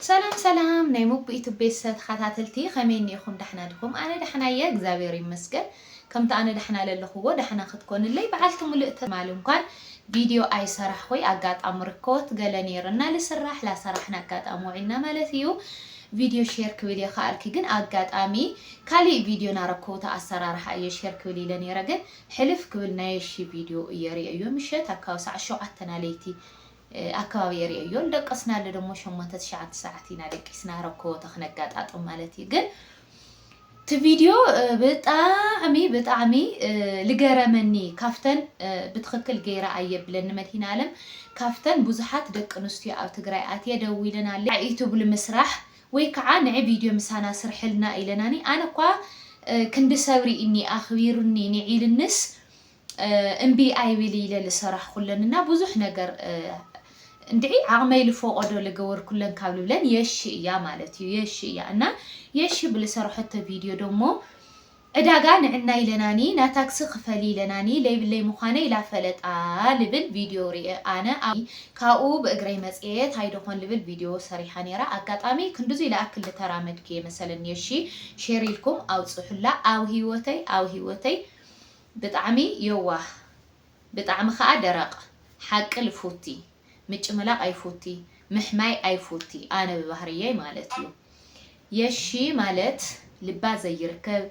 ሰላም ሰላም ናይ ሞኩ ዩቱብ ቤተሰብ ተኻታተልቲ ከመይ እኒኢኹም ዳሕና ዲኹም ኣነ ዳሕና እየ እግዚኣብሔር ይመስገን ከምቲ ኣነ ዳሕና ለለኹዎ ዳሕና ክትኮንለይ በዓልቲ ሙሉእ ተስፋ እየ ትማሊ እንኳን ቪድዮ ኣይሰራሕኹይ ኣጋጣሚ ርኮት ገለ ነይሩ እና ልስራሕ ላሰራሕን ኣጋጣሚ ውዒልና ማለት እዩ ቪድዮ ሼር ክብል እየ ከኣልኪ ግን ኣጋጣሚ ካሊእ ቪድዮ ናረኮውታ ኣሰራርሓ እየ ሼር ክብል ኢለ ነይረ ግን ሕልፍ ክብል ናየሺ ቪድዮ እየ ሪኤዮ ምሸት ኣካባቢ ሰዓት ሸውዓተ ናለይቲ ኣከባቢ የርእዮዮ ልደቀስናሉ ደሞ ሸሞንተ ትሽዓተ ሰዓት ኢና ደቂስና ረኮቦተ ክነጋጣጥም ማለት እዩ ግን እቲ ቪድዮ ብጣዕሚ ብጣዕሚ ልገረመኒ ካፍተን ብትክክል ገይረ ኣየብለን ንመድሂን ኣለም ካፍተን ብዙሓት ደቂ ኣንስትዮ ኣብ ትግራይ ኣትየ ደዊለናለ ናይ ዩቱብ ልምስራሕ ወይ ከዓ ንዒ ቪድዮ ምሳና ስርሕልና ኢለናኒ ኣነ እኳ ክንዲ ሰብሪ እኒ ኣክቢሩኒ ንዒልንስ እምቢ ኣይብል ኢለ ልሰራሕኩለን እና ብዙሕ ነገር እንድዒ ዓቕመይ ልፎቐዶ ልገበርኩለን ካብ ልብለን የሺ እያ ማለት እዩ። የሺ እያ እና የሺ ብልሰራሖቶ ቪድዮ ደሞ ዕዳጋ ንዕና ኢለናኒ ናታክሲ ክፈሊ ኢለናኒ ለይብለይ ምዃነ ኢላ ፈለጣ ልብል ቪድዮ ርኤ ኣነ ካብኡ ብእግረይ መጽኤ ታይዶኾን ልብል ቪድዮ ሰሪሓ ነይራ ኣጋጣሚ ክንድዙይ ልኣክል ልተራመድኩ እየ መሰለኒ የሺ ሼር ኢልኩም ኣውጽሑላ ኣብ ህይወተይ ኣብ ህይወተይ ብጣዕሚ የዋህ ብጣዕሚ ከኣ ደረቅ ሓቂ ልፉቲ ምጭምላቅ ኣይፉቲ ምሕማይ ኣይፉቲ ኣነ ብባህርየይ ማለት እዩ የሺ ማለት ልባ ዘይርከብ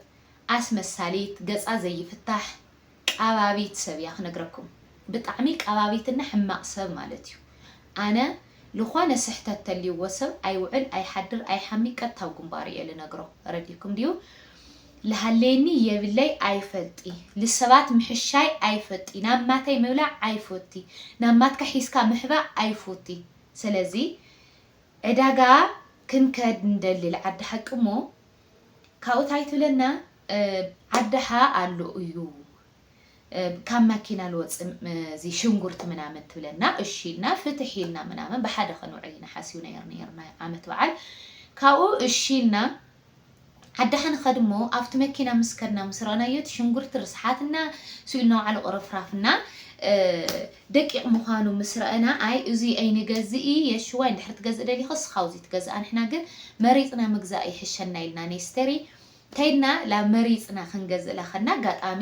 ኣስመሳሊት ገጻ ዘይፍታሕ ቀባቢት ሰብ እያ ክነግረኩም ብጣዕሚ ቀባቢትና ሕማቅ ሰብ ማለት እዩ ኣነ ልኾነ ስሕተት ተልይዎ ሰብ ኣይውዕል ኣይሓድር ኣይሓሚ ቀጥታ ኣብ ግንባሩ እየ ልነግሮ ረዲኩም ድዩ ልሃልየኒ የብለይ ኣይፈልጢ ልሰባት ምሕሻይ ኣይፈጢ ናብ ማተይ ምብላዕ ኣይፎቲ ናብ ማትካ ሒዝካ ምሕባእ ኣይፎቲ ሰለዚ ዕዳጋ ክንከድ ንደሊ ልዓዲ ሓቂ እሞ ካብኡ ታይ ትብለና ዓዲ ሓ ኣሎ እዩ ካብ ማኪና ልወጽ እዚ ሽንጉርቲ ምናምን ትብለና እሺ ኢልና ፍትሕ ኢልና ምናምን ብሓደ ከንውዕል ኢና ሓሲብና ነይርና ዓመት በዓል ካብኡ እሺ ኢልና ዓዲ ከንኸድ እሞ ኣብቲ መኪና ምስ ከድና ምስ ረኣናዮ እቲ ሽንጉርቲ ርስሓትና ስኢልና ውዓሉ ቁርፍራፍና ደቂቕ ምዃኑ ምስ ረአና ኣይ እዚ ኣይንገዝኢ የሽዋ እንድሕር ትገዝእ ደሊኸ ስኻውዚ ትገዝኣ ንሕና ግን መሪፅና ምግዛእ ይሕሸና ኢልና ኔስተሪ ተይልና እላ መሪጽና ክንገዝእ ለኸና ኣጋጣሚ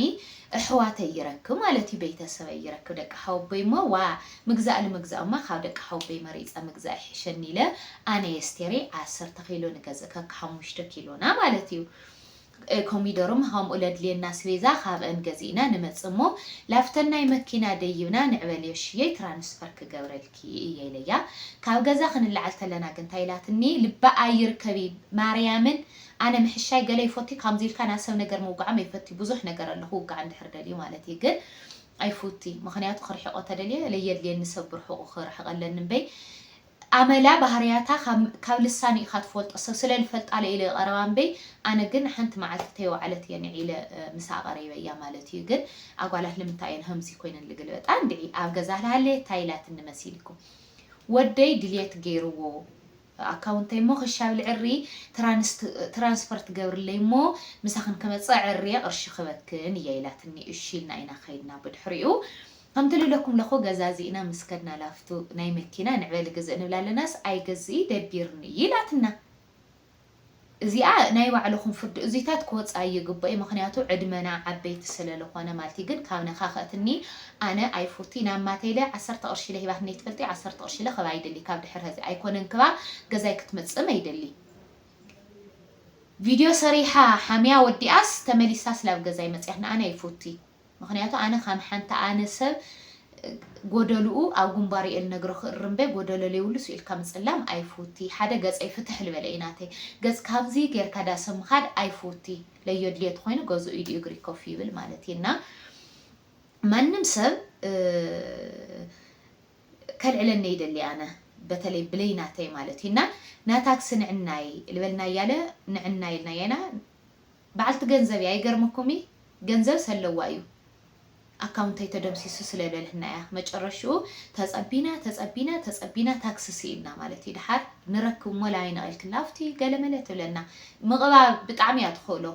እሕዋተይ ይረክብ ማለት እዩ ቤተሰበይ ይረክብ ደቂ ሓወቦይ እሞ ዋእ ምግዛእ ልምግዛእ እማ ካብ ደቂ ሓወቦይ መሪጸ ምግዛእ ይሕሸኒ ኢለ ኣነ የስቴረይ ዓሰርተ ኪሎ ንገዝእ ከክ ሓሙሽተ ኪሎና ማለት እዩ ኮሚደሩም ኸምኡ ለድልየና ኣስቤዛ ካብእን ገዚእና ንመጽእ እሞ ላብተናይ መኪና ደይብና ንዕበልዮ ሽየይ ትራንስፈር ክገብረልኪ እየ ኢለያ ካብ ገዛ ክንለዓል ተለና ግን ታይ ኢላትኒ ልቢ ኣይርከቢ ማርያምን ኣነ ምሕሻይ ገለ ይፎቲ ካምዚ ኢልካ ናብ ሰብ ነገር ምውጋዕም ኣይፈቲ ቡዙሕ ነገር ኣሎ ክውጋዕ እንድሕር ደልዩ ማለት እየ ግን ኣይፉቲ ምክንያቱ ክርሕቆ ተደልየ ለየድልየኒ ሰብ ብርሑቁ ክርሕቀ ኣለኒ እምበይ ኣመላ ባህርያታ ካብ ልሳኑ ኢካ ትፈልጦ ሰብ ስለ ልፈልጣለ ኢለ ይቀረባ እምበይ ኣነ ግን ሓንቲ መዓልቲ ተይወዓለት እየ ንዒለ ምሳኣ ቀሪበያ ማለት እዩ ግን ኣጓላት ልምንታይ እየን ሀምዚ ኮይነን ልግልበጣ እንድዒ ኣብ ገዛ ልሃለየ ታይ ኢላትኒ መሲልኩም ወደይ ድልየት ገይርዎ ኣካውንተይ እሞ ክሽ ኣብሊ ዕሪ ትራንስፈር ትገብርለይ እሞ ምሳኽን ክመፅእ ኣዐርየ ቅርሺ ክህበክን እየ ኢላትኒ እሺ ኢልና ኢና ከይድና ብድሕሪኡ ከምቲ ልብለኩም ለኹ ገዛዚእና ምስ ከድና ላፍቱ ናይ መኪና ንዕበሊ ግዝእ ንብላ ኣለናስ ኣይገዝኢ ደቢርኒ ኢላትና እዚኣ ናይ ባዕልኹም ፍርዲ እዙይታት ክወፃ ይግበእዩ ምኽንያቱ ዕድመና ዓበይቲ ስለልኾነ ማለት እዩ ግን ካብ ነካክእትኒ ኣነ ኣይፉቲ ናብ ማተይለ ዓሰርተ ቅርሺለ ሂባትነይ ትፈልጢ ዓሰርተ ቅርሺለ ክባ ኣይደሊ ካብ ድሕር ሀዚ ኣይኮነን ክባ ገዛይ ክትመፅእም ኣይደሊ ቪድዮ ሰሪሓ ሓምያ ወዲኣስ ተመሊሳስ ላብ ገዛይ መፅያት ንኣነ ኣይፉቲ ምክንያቱ ኣነ ከም ሓንቲ ኣነ ሰብ ጎደሉኡ ኣብ ጉንባሩ እየ ልነግሮ ክእርም እምበ ጎደሎ ለይብሉ ስኢልካ ምጽላም ኣይፍውቲ ሓደ ገጸይ ፍትሕ ልበለ እዩ ናተይ ገጽ ካብዚ ገርካ ዳሰ ምካድ ኣይፍውቲ ለዮ ድልየቱ ኮይኑ ገዝኡ ኢዱ እግሪ ኮፍ ይብል ማለት እዩ እና ማንም ሰብ ከልዕለኒ ይደሊ ኣነ በተለይ ብለይ ናተይ ማለት እዩ እና ናታክሲ ንዕናይ ልበልናያ ለ ንዕናይ ኢልናያ ኢና ባዓልቲ ገንዘብ እያ ይገርመኩም እዪ ገንዘብ ሰለዋ እዩ ኣካውንተይ ተደምሲሱ ስለ ለልህና እያ መጨረሽኡ ተፀቢና ተፀቢና ተፀቢና ታክሲ ሲኢንና ማለት እዪ ዳሓር ንረክብ እሞ ላይን ኣቂልክልና ኣፍትዪ ገለመለ ትብለና ምቅባ ብጣዕሚ እያ ትክእሎ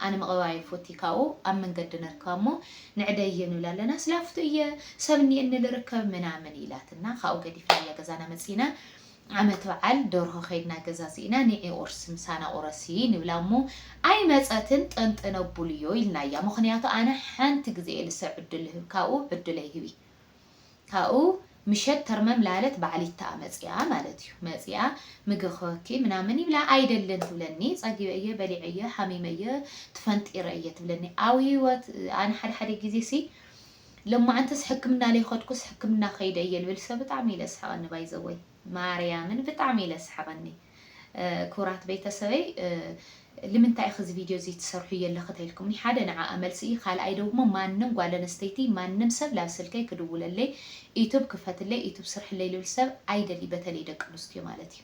ኣነ ምቅባ ኣይፎቲ ካብኡ ኣብ መንገዲ ነርክባ እሞ ንዕደዪ ንብላ ኣለና ስላፍቱ እየ ሰብ እኒኤኒ ልርከብ ምናምን ኢላትና ካብኡ ገዲፍናያ ገዛና መፂና ዓመት በዓል ደርሆ ከይድና ገዛዚእና ንዒ ቁርሲ ምሳና ቁረሲ ንብላ እሞ ኣይመጸትን ጠንጠነቡልዮ ኢልናያ ምኽንያቱ ኣነ ሓንቲ ግዜየ ልሰ ዕዱል ልህብ ካብኡ ዕዱለይ ህቢ ካብኡ ምሸት ተርመም ላለት በዓሊታ መጺኣ ማለት እዩ መጺኣ ምግቢ ክህበኪ ምናምን ይብላ ኣይደልን ትብለኒ ጸጊበ እየ በሊዐ እየ ሓሚመ እየ ትፈንጢረ እየ ትብለኒ ኣብ ሂወት ኣነ ሓደ ሓደ ግዜሲ ለማዓንትስ ሕክምና ለይኸድኩስ ሕክምና ከይደ እየ ልብል ሰ ብጣዕሚ ኢለ ስሕቐኒ ባይዘወይ ማርያምን ብጣዕሚ ኢለ ስሕቐኒ ክብራት ቤተሰበይ ልምንታይ ኢኺ እዚ ቪድዮ እዚ ትሰርሑ የለኺ ተይልኩምኒ ሓደ ንዓኣ መልሲ እዩ ካልኣይ ደግሞ ማንም ጓል ኣነስተይቲ ማንም ሰብ ላብ ስልከይ ክድውለለይ ኢቱብ ክፈትለይ ኢቱብ ስርሕለይ ልብል ሰብ ኣይደሊ በተለይ ደቂ ኣንስትዮ ማለት እዩ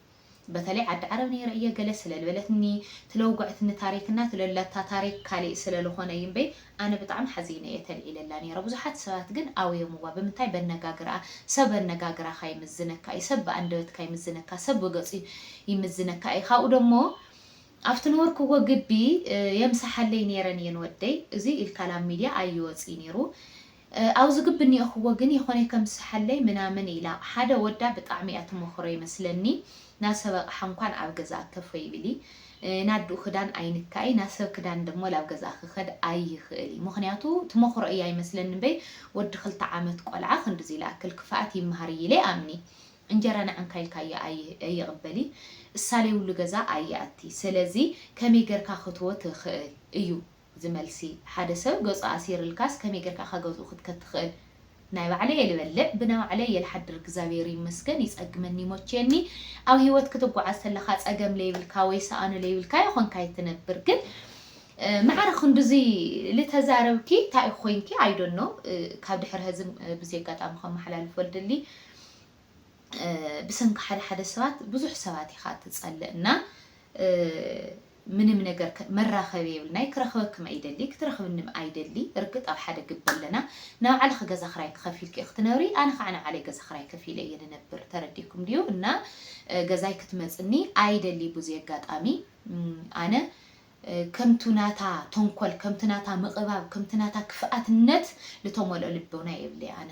በተለይ ዓዲ ዓረብ ነይረ እየ ገለ ስለልበለትኒ ትለውጎዐትኒ ታሪክ እና ትለላታ ታሪክ ካሊእ ስለልኮነ እዩ እምበይ ኣነ ብጣዕሚ ሓዚነ እየ ተልዒለላ ነይረ ብዙሓት ሰባት ግን ኣውዮምዋ ብምንታይ በነጋግርኣ ሰብ ኣነጋግራካ ይምዝነካ እዩ ሰብ ብኣንደበትካ ይምዝነካ ሰብ ብገፁ ይምዝነካ እዩ ካብኡ ደሞ ኣብቲ ነበርክዎ ግቢ የምሳሓለይ ነይረን እየን ወደይ እዙይ ኢልካ ላብ ሚድያ ኣይወፅይ ነይሩ ኣውዚ ግብ ኒኦክዎ ግን የኮነይ ከምስሓለይ ምናምን ኢላ ሓደ ወዳ ብጣዕሚ እያ ትመክሮ ይመስለኒ ናሰብ ኣቅሓ እንኳን ኣብ ገዛ ኣተፎይ ብሊ ናድኡ ክዳን ኣይንካኢ ናሰብ ክዳን ደሞ ላብ ገዛ ክከድ ኣይክእል እዩ ምክንያቱ ትመክሮ እያ ይመስለኒ እምበይ ወዲ ክልተ ዓመት ቆልዓ ክንድዚ ልኣክል ክፋኣት ይማሃር እዪ ኢለ ኣምኒ እንጀራ ንዕንካ ኢልካዮ ኣይቅበል እዪ እሳለይብሉ ገዛ ኣይኣቲ ሰለዚ ከመይ ገርካ ክትዎ ትክእል እዩ እዚ መልሲ ሓደ ሰብ ገጹ ኣሲርልካስ ከመይ ጌርካ ካብ ገዝኡ ክትከድ ትክእል ናይ ባዕለይ እየ ልበልዕ ብናይ ባዕለይ እየ ልሓድር እግዛብሄር ይመስገን ይጸግመኒ ይሞችየኒ ኣብ ሂወት ክትጓዓዝ ተለካ ጸገም ለይብልካ ወይ ሰኣኑ ለይብልካ የኮንካይ ትነብር ግን ማዕረ ክንድዚ ልተዛረብኪ ታይ ኮይንኪ ኣይ ዶን ኖው ካብ ድሕሪ ሀዚ ብዚ ኣጋጣሚ ከመሓላልፎ ልድሊ ብሰንኪ ሓደ ሓደ ሰባት ብዙሕ ሰባት ኢካ ትጸልእ እና ምንም ነገር ከ መራከቢ የብልናይ ክረክበክም ኣይደሊ ክትረክብንም ኣይደሊ እርግጥ ኣብ ሓደ ግቢ ኣለና ናባዕልኪ ገዛ ክራይ ተከፊልኪ ኢኪ ትነብሪ ኣነ ካዓ ናባዕለይ ገዛ ክራይ ከፊለ እየ ንነብር ተረዲኩም ድዩ እና ገዛይ ክትመፅኒ ኣይደሊ ቡዙ ኣጋጣሚ ኣነ ከምቱ ናታ ተንኮል ከምቱ ናታ ምቅባብ ከምቱ ናታ ክፍኣትነት ልተሞልኦ ልቦና የብለይ ኣነ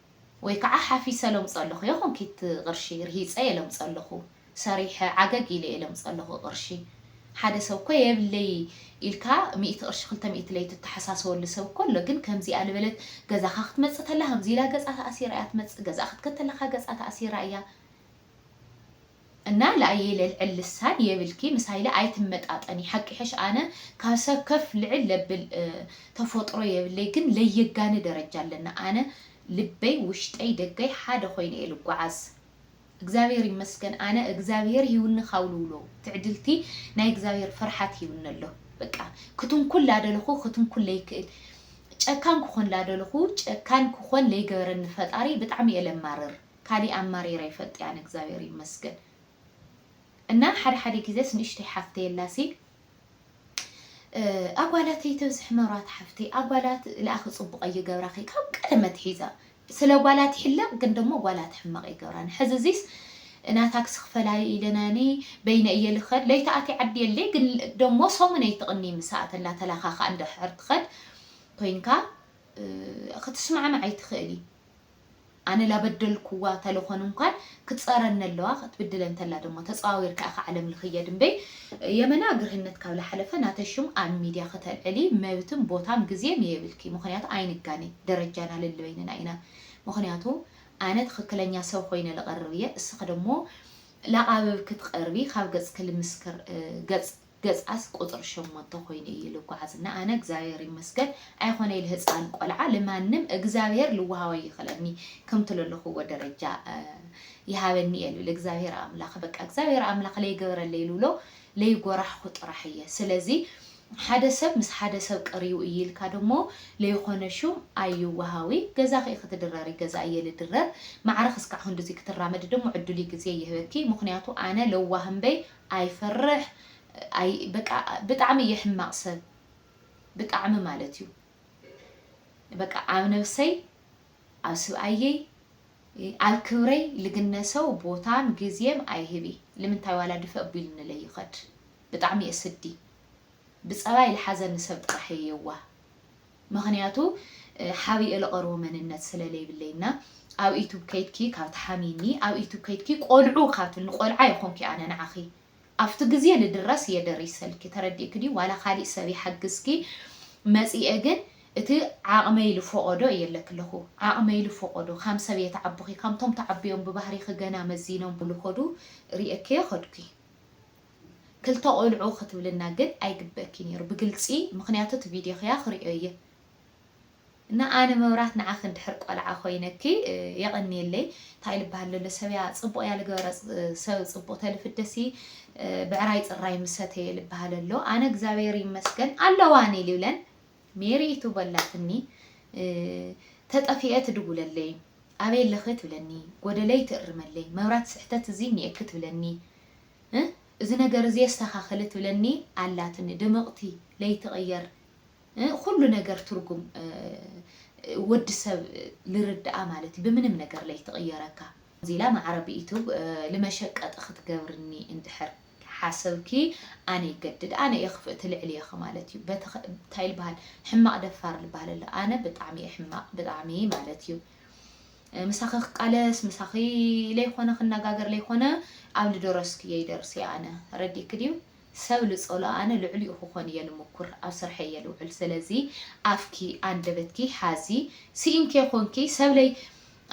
ወይ ከዓ ሓፊሰ ለምፀለኹ እየ ኮንኪት ቕርሺ ርሂፀ እየ ለምፀለኹ ሰሪሐ ዓገግ ኢለ እየ ለምፀለኹ ቕርሺ ሓደ ሰብ እኮ የብለይ ኢልካ ሚእቲ ቕርሺ ክልተ ሚእቲ ለይ ትተሓሳሰበሉ ሰብ እኮ ኣሎ ግን ከምዚኣ ልበለት ገዛኻ ክትመፅእ ተላ ከምዚ ኢላ ገፃ ተኣሲራ እያ ትመፅእ ገዛኣ ክትከድ ተለኻ ገፃ ተኣሲራ እያ እና ላኣየ ለልዕል ልሳን የብልኪ ምስ ሃይለ ኣይትመጣጠኒ ሓቂ ይሐሽ ኣነ ካብ ሰብ ከፍ ልዕል ለብል ተፎጥሮ የብለይ ግን ለየጋኒ ደረጃ ኣለና ኣነ ልበይ ውሽጠይ ደገይ ሓደ ኮይኑ እየ ልጓዓዝ እግዚኣብሔር ይመስገን ኣነ እግዚኣብሔር ሂውኒ ካብ ልውሎ ትዕድልቲ ናይ እግዚኣብሔር ፍርሓት ሂውኒ ኣሎ በቃ ክትንኩል ላደለኩ ክትንኩል ለይክእል ጨካን ክኮን ላደለኩ ጨካን ክኮን ለይገበረኒ ፈጣሪ ብጣዕሚ እየ ለማርር ካሊእ ኣማሪረ ኣይፈልጥያን እግዚኣብሔር ይመስገን እና ሓደ ሓደ ግዜስ ንእሽተይ ሓፍተይ ኣላሲ ኣጓላተይ ተብዝሕ መራት ሓፍተይ ኣጓላት ልኣኺ ፅቡቀ ይገብራኺ ካብ ቀደም ኣትሒዛ ስለ ጓላት ይሕለቅ ግን ደሞ ጓላት ሕማቅ ይገብራኒ ሕዚ እዚስ እና ታክሲ ክፈላሊ ኢለናኒ በይነ እየ ልኸድ ለይተኣቲ ዓዲ የለይ ግን ደሞ ሰሙን ኣይትቕኒ ምሳኣ ተላ ተላኻኻ እንድሕር ትኸድ ኮይንካ ክትስማዕማዕ ኣይትኽእሊ ኣነ ላበደልኩዋ ተለኮን እንኳን ክፀረኒ ኣለዋ ከትብድለ እንተላ ደሞ ተፀዋዊርካ ኢካ ዓለም ልክየ ድምበይ የመና ግርህነት ካብ ላሓለፈ ናተይ ሹም ኣብ ሚድያ ከተልዕሊ መብትን ቦታን ግዜን የብልኪ ምክንያቱ ኣይንጋነ ደረጃና ልልበይንና ኢና ምክንያቱ ኣነ ትክክለኛ ሰብ ኮይነ ልቀርብ እየ እስኪ ደሞ ላቃብብ ክትቀርቢ ካብ ገፅኪ ልምስክር ገፅ ገጻስ ቁጽሪ ሸሞንተ ኮይኑ እዩ ልጓዓዝ እና ኣነ እግዚኣብሔር ይመስገን ኣይኾነይ ልህጻን ቆልዓ ልማንም እግዚኣብሔር ልዋሃቦ ኣይኽለኒ ከምቲ ለለኹዎ ደረጃ ይሃበኒ እየ ልብል እግዚኣብሔር ኣምላኽ በቃ እግዚኣብሔር ኣምላኽ ለይገበረለይ ልብሎ ለይጎራሕኹ ጥራሕ እየ ስለዚ ሓደ ሰብ ምስ ሓደ ሰብ ቀርዩ እዩ ኢልካ ደሞ ለይኾነ ሹም ኣይዋሃዊ ገዛኺ ኢኺ ትድረሪ ገዛ እየ ልድረር ማዕረ ክስካዕ ክንድዙይ ክትራመዲ ደሞ ዕዱልይ ግዜ ይህበኪ ምኽንያቱ ኣነ ለዋህ እምበይ ኣይፈርሕ ኣይ በቃ ብጣዕሚ እየ ሕማቅ ሰብ ብጣዕሚ ማለት እዩ በቃ ኣብ ነብሰይ ኣብ ስብኣየይ ኣብ ክብረይ ልግነ ሰው ቦታን ግዜም ኣይህቢ ልምንታይ ዋላ ድፈእ ቢልንለይ ይኸድ ብጣዕሚ እየ ስዲ ብፀባይ ልሓዘኒ ሰብ ጥራሕ እየ የዋህ ምክንያቱ ሓቢኤ ልቀርቦ መንነት ስለ ለይብለይ እና ኣብ እዩቱብ ከይድኪ ካብ ትሓምይኒ ኣብ እዩቱብ ከይድኪ ቆልዑ ካብ ትብልኒ ቆልዓ የኮንኩ ኣነ ንዓኪ ኣብቲ ግዜ ልድረስ እየ ደሪሰልኪ ተረዲእኪ ድዩ ዋላ ካሊእ ሰብ ይሓግዝኪ መፂኤ ግን እቲ ዓቅመይ ልፎቆዶ እየ እለኪ ኣለኩ ዓቅመይ ልፎቆዶ ካም ሰብ እየ ተዓብኪ ካምቶም ተዓብዮም ብባህሪኪ ገና መዚኖም ልኮዱ ሪኤኪየ ከድኩ። ክልተ ቆልዑ ክትብልና ግን ኣይግበእኪ ኔሩ ብግልጺ ምክንያቱ እቲ ቪድዮ ክያ ክሪኦ እየ እና ኣነ መብራት ንዓኺ እንድሕር ቆልዓ ኮይነኪ የቐንየለይ እንታይ ልበሃል ለሎ ሰብያ ጽቡቕ እያ ልገበረ ሰብ ጽቡቕ ተልፍደሲ ብዕራይ ጽራይ ምሰተየ ልበሃል ኣሎ ኣነ እግዚኣብሔር ይመስገን ኣለዋኒ ልብለን ሜሪ ኢቱ በላትኒ ተጠፊኤ ትድውለለይ ኣበይ ኣለኺ ትብለኒ ጎደለይ ትእርመለይ መብራት ስሕተት እዚ እኒኤኪ ትብለኒ እህ እዚ ነገር እዚ የስተካክል ትብለኒ ኣላትኒ ድምቅቲ ለይትቅየር እህ ኩሉ ነገር ትርጉም እህ ወዲ ሰብ ልርድኣ ማለት እዩ ብምንም ነገር ለይትቅየረካ። ከምዚ ኢላ ማዕረ ብዩቱብ ልመሸቀጢ ክትገብርኒ እንድሕር ሓሰብኪ ኣነ ይገድድ ኣነ እየ ክፍእቲ ልዕሊ እየኺ ማለት እዩ በቲ እንታይ ልባሃል ሕማቅ ደፋር ልባሃል ኣሎ ኣነ ብጣዕሚ እየ ሕማቅ ብጣዕሚ ማለት እዩ። ምሳኺ ክቃለስ ምሳኺ ለይኾነ ክነጋገር ለይኾነ ኣብ ልደረስኩ እየ ይደርስ እየ ኣነ ረዲእኪ ድዩ ሰብ ልጸሎ ኣነ ልዕሊኡ ክኾን እየ ልምኩር ኣብ ስርሐይ እየ ልውዕል ስለዚ ኣፍኪ ኣንደበትኪ ሓዚ ስኢንኪ ኮንኪ ሰብ ለይ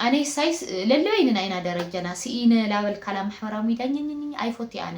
ኣነ ሳይስ ለለበይንና ኢና ደረጃና ስኢነ ላበልካላ ማሕበራዊ ሚድያ ኝኝኝ ኣይፎቲ ኣነ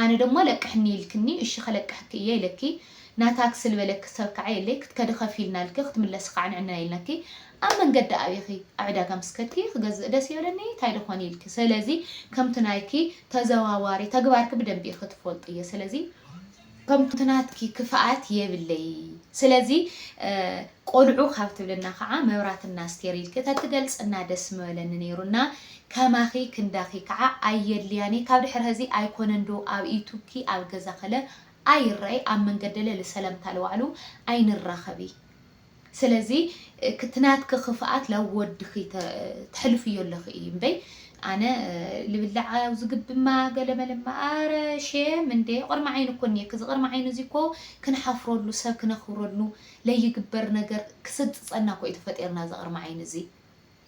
ኣነ ደማ ለቅሕኒ ኢልክኒ እሺ ከለቅሕኪ እየ ኢለኪ ናታ ክስል በለኪ ሰብ ካዓ የለይ ክትከዲ ከፊልና ኢልኪ ክትምለሲ ካዓ ንዕነን ኢልናኪ ኣብ መንገዲ ኣቢኪ ኣብ ዕዳጋ ምስ ከድኪ ክገዝእ ደስ ይበለኒ ታይ ደኮን ኢልኪ ሰለዚ ከምቲ ናይኪ ተዘዋዋሪ ተግባርኪ ብደንቢ ኢኪ ትፎልጥዬ ሰለዚ ከምቲ ናትኪ ክፍኣት የብለይ ስለዚ ቆልዑ ካብ ትብልና ካዓ መብራት እና ኣስቴር ኢልኪ ተትገልፅና ደስ ምበለኒ ነይሩ እና ከማኺ ክንዳኺ ካዓ ኣየድልያን እየ ካብ ድሕሪ ሀዚ ኣይኮነን ዶ ኣብ ዩቱብኪ ኣብ ገዛኺለ ኣይረኣይ ኣብ መንገደለ ልሰለምታ ልዋዕሉ ኣይንራኸቢ ስለዚ ክቲ ናትኪ ክፍኣት ላብ ወድኪ ተሕልፍዮ ኣለኪ እዪ እምበይ ኣነ ልብላዕ ኣዚ ግብማ ገለመለማ ኣረ ሼም እንዴ ቅርሚ ዓይኒ እኮ እኒኤኪ እዚ ቅርሚ ዓይኒ እዚ እኮ ክንሓፍረሉ ሰብ ክነክብረሉ ለይግበር ነገር ክስልጥፀና እኮ እዩ ተፈጢርና እዚ ቅርሚ ዓይኒ እዚ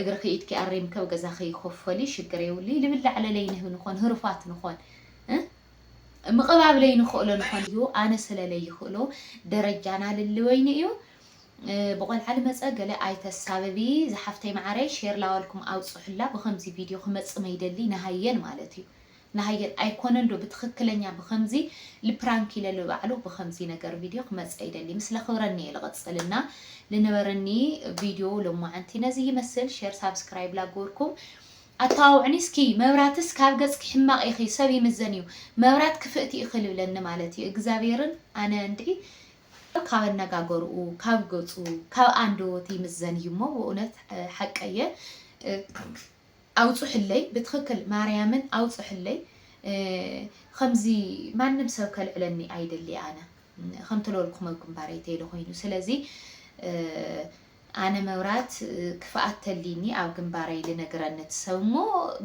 እግርኺ ኢድኪ ኣሪምኪ ኣብ ገዛኺ ኮፈሊ ሽግር የውሊ ልብላዕ ለለይ ንህቢ ንኾን ህሩፋት ንኾን ምቕባብ ለይ ንኽእሎ ንኾን እዩ ኣነ ስለ ለይ ይኽእሎ ደረጃና ልልወይኒ እዩ ብቆልዓ ልመፀ ገለ ኣይተሳብቢ ዝሓፍተይ መዓረይ ሼር ላዋልኩም ኣውፅሑላ ብከምዚ ቪድዮ ክመፅ መይደሊ ንሃየን ማለት እዩ ንሃየት ኣይኮነን ዶ ብትክክለኛ ብከምዚ ልፕራንክ ኢለ ልባዕሉ ብከምዚ ነገር ቪድዮ ክመጸ ይደሊ ምስ ለክብረኒ እየ ልቅጽል እና ልነበረኒ ቪድዮ ሎማዓንቲ ነዚ ይመስል ሸር ሳብስክራይብ ላግበርኩም ኣተዋውዕኒ እስኪ መብራትስ ካብ ገጽኪ ሕማቅ ኢኪ ሰብ ይምዘን እዩ መብራት ክፍእቲ ኢኪ ልብለኒ ማለት እዩ እግዛብሄርን ኣነ እንድዒ ካብ ኣነጋገርኡ ካብ ገጹ ካብ ኣንደወቱ ይምዘን እዩ እሞ ብእውነት ሓቀየ ኣውጹሕለይ ብትክክል ማርያምን ኣውጹሕለይ ኸምዚ ማንም ሰብ ከልዕለኒ ኣይደሊ ኣነ ኸምቲ ለወልኩም ኣብ ግንባረይ ተይለ ኾይኑ ስለዚ ኣነ መብራት ክፍኣት ተልይኒ ኣብ ግንባረይ ልነግረ ነት ሰብ እሞ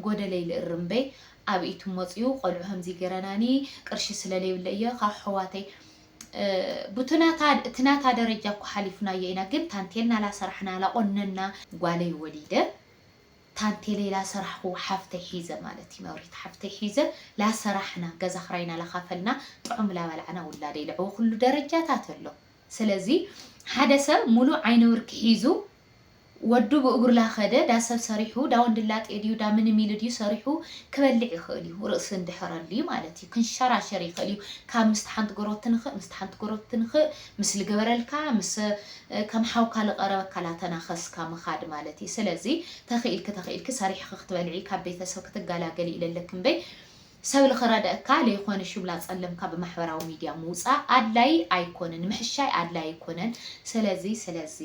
ጎደለይ ልእርም በይ ኣብ ኢቱ ሞጽዩ ቆልዑ ኸምዚ ገረናኒ ቅርሺ ስለ ለይብለ እየ ኻብ ኣሕዋተይ ቡትናታ እትናታ ደረጃ እኮ ሓሊፍናዮ ኢና ግን ታንቴል ናላሰራሕና ላቆነና ጓለይ ወሊደ ታንቴለይ ላሰራሕኹ ሓፍተይ ሒዘ ማለት እዩ መብሪት ሓፍተይ ሒዘ ላሰራሕና ገዛ ክራይና ላካፈልና ጥዑም ላባላዕና ውላደይ ለዕወኹሉ ደረጃታት ኣሎ ስለዚ ሓደ ሰብ ሙሉእ ዓይነውርኪ ሒዙ ወዱ ብእግሩ ላከደ ዳሰብ ሰሪሑ ዳወንድላጤ ድዩ ዳምንም ኢሉ ድዩ ሰሪሑ ክበልዕ ይኽእል እዩ ርእሲ እንድሕር ኣልዩ ማለት እዩ ክንሸራሸር ይኽእል እዩ ካብ ምስቲ ሓንቲ ጎረብቲ ንክእ ምስቲ ሓንቲ ጎረብቲ ንክእ ምስ ልገበረልካ ምስ ከም ሓውካ ልቀረበካ ላተናኸስካ ምኻድ ማለት እዪ ሰለዚ ተኺኢልኪ ተኺኢልኪ ሰሪሕኺ ክትበልዒ ካብ ቤተሰብ ክትጋላገሊ ኢለለኪ እምበይ ሰብ ልኽረደእካ ለይኾነ ሹብ ላፀለምካ ብማሕበራዊ ሚድያ ምውፃእ ኣድላዪ ኣይኮነን ምሕሻይ ኣድላዪ ኣይኮነን ሰለዚ ሰለዚ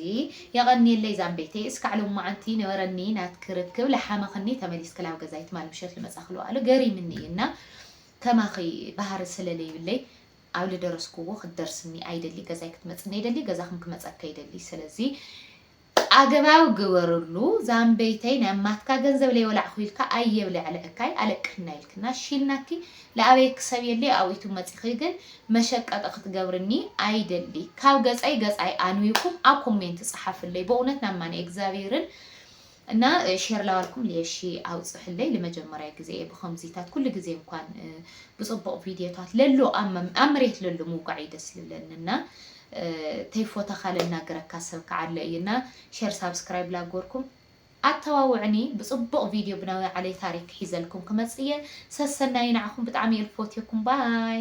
የቐንየለይ ዛምቤተይ እስካዕ ሎማዓንቲ ነበረኒ ናትኪ ርክብ ላሓመኽኒ ተመሊስኪ ላብ ገዛይ ትማል ምሸት ልመፃኺ ልውኣሉ ገሪምኒ እዪ እና ከማኺ ባህሪ ሰለለይብለይ ኣብ ልደረስክዎ ክትደርስኒ ኣይደሊ ገዛይ ክትመጽኒ ኣይደሊ ገዛክን ክመጸካ ይደሊ ሰለዚ ኣገባብ ግበርሉ ዛምበይተይ ናይ ኣማትካ ገንዘብ ለይበላዕኩ ኢልካ ኣየ ብለዕልዕካይ ኣለቅሕና ኢልክና ሺልናኪ ልኣበየኪ ሰብ የልይ ኣብኡ ዩቱብ መጺኪ ግን መሸቀጢ ክትገብርኒ ኣይደሊ ካብ ገጸይ ገጻይ ኣንዊኩም ኣብ ኮሜንት ጽሓፍለይ በእውነት ናማኒ እግዛብሄርን እና ሼር ላዋልኩም ልየሺ ኣውጽሕለይ ልመጀመርያ ግዜ እየ ብከምዚታት ኩሉ ግዜ እንኳን ብጽቡቅ ቪድዮታት ለሎ ኣብ መሬት ለሎ ምውቃዕ እዩ ደስ ልለኒ እና ተይፎተካ ለናገረካ ሰብ ከዓ ኣሎ እዩ እና ሼር ሳብስክራይብ ላጎርኩም ኣተዋውዕኒ ብጽቡቅ ቪድዮ ብናዊ ዓለይ ታሪክ ሒዘልኩም ክመጽእ እየ ሰሰናዩ ንዓኹም ብጣዕሚ እየ ልፎትየኩም ባይ